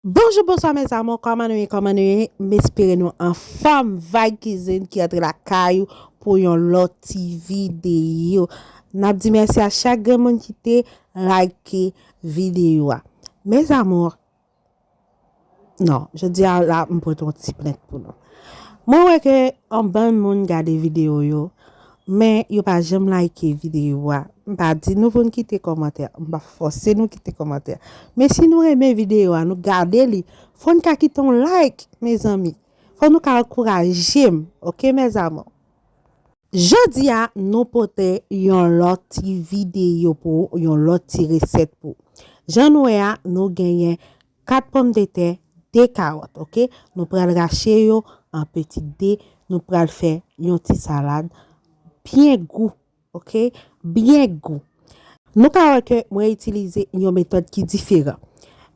Bonjou bonswa mes amour kòman nou ye kòman nou ye m espere nou anfòm vibe cuisine ki antre lakay ou pou yon lòt ti video nap di mèsi a chak grenn moun ki te like video a mes amour non jodi a la m pote yon ti plent pou nou mwen wè ke anbann moun gade video yo Men yo pa janm like video a. M pa di nou pou n kite kòmantè. M pa fòse nou kite kòmantè. Men si nou renmen video a, nou gade li, fò n ka kite yon like mezanmi. Fò nou ka ankouraje m ok mes amours. Jodi a nou pote yon lòt ti video pou ou, yon lòt ti resèt pou ou. Jan n wè a, nou genyen 4 pòmdetè, 2 karòt ok, nou pral rache yo an peti 2, nou pral fè yon ti salad byen gou ok, byen gou. Nou ka wè ke mwen itilize yon metòd ki diferan.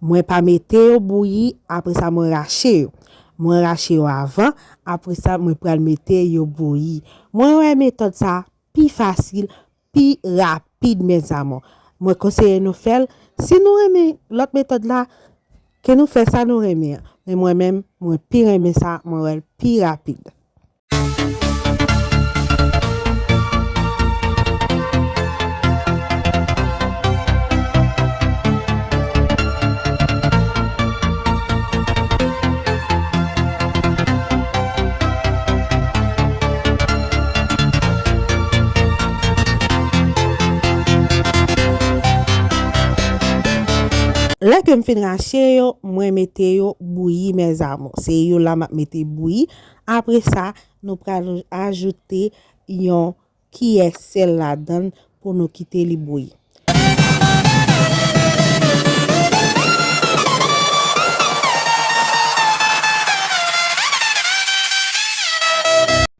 Mwen pa mete yo bouyi apresa mwen rache yo. Mwen rache yo avan, apresa mwen pral mete yo bouyi. Mwen wè metòd sa pi fasil, pi rapid mes amour mwen konseye nou fèl si nou renmen lòt metòd la ke nou fè sa nou renmen an men mwen menm mwen pi renmen sa mwen wèl pi rapid. Lè kem fin rache yo mwen mete yo bouyi mes amours se yo la map mete bouyi apre sa nou pral ajoute yon kiyè sèl ladann pou nou kite li bouyi.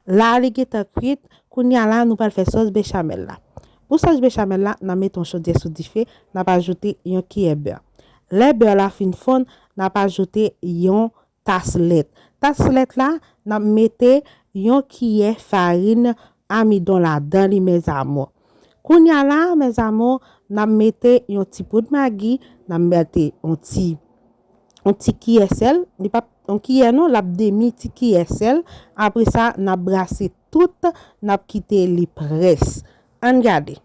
La li gentan kwit, kounya la nou pral fè sòs bechamel la. Pou sòs bechamel la, na mete yon chodyè sou dife, nap ajoute yon kiyè bè. Lè bè la fin fonn, nap ajoute yon tas lèt. Tas lèt la, n ap mete yon kiyè farin amidon ladan li mèzamou. Kounye a la a mèzamou, n ap mete yon ti poud magi, n ap mete yon ti yon ti kiyè sèl, li p ap yon kiyè non, l ap demi ti kiyè sèl. Apre sa, n ap brase tout, n ap kite li près. An n gade.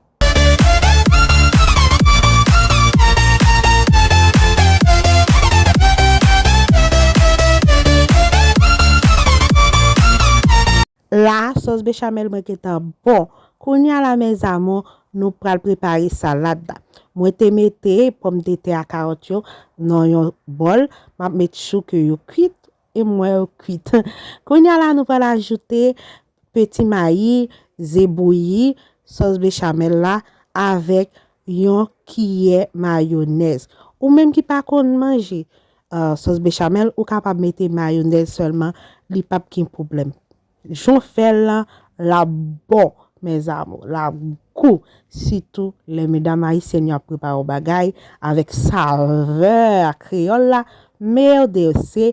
La a sòs bechamel mwen gentan bon. Kounye a la mes amour nou pral prepare salad la. Mwen te mete pòm de tè a karòt yo nan yon bòl. Map met chou ke yo kwit e mwen yo kwit. Kounye a la nou pral ajoute Peti mayi, ze bouyi, sòs bechamel la avèk yon kiyè mayonèz. Ou menm ki pa konn manje sòs bechamel ou kapab mete mayonèz sèlman li pap gen pwoblèm. Jan w fè l lan lap bon mes amours lap gou sitou lè medam ayisyèn yo ap prepare yon bagay avèk savè kreyòl la merde se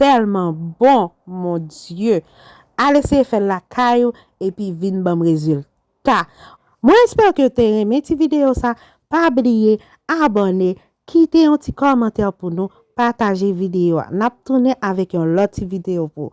telman bon mon Dieu al eseye fèl lakay ou epi vin banm rezilta mwen espere ke te renmen ti video sa pa bliye abòne kite yon ti kòmantè pou nou pataje video a nap tounen avèk yon lòt ti video pou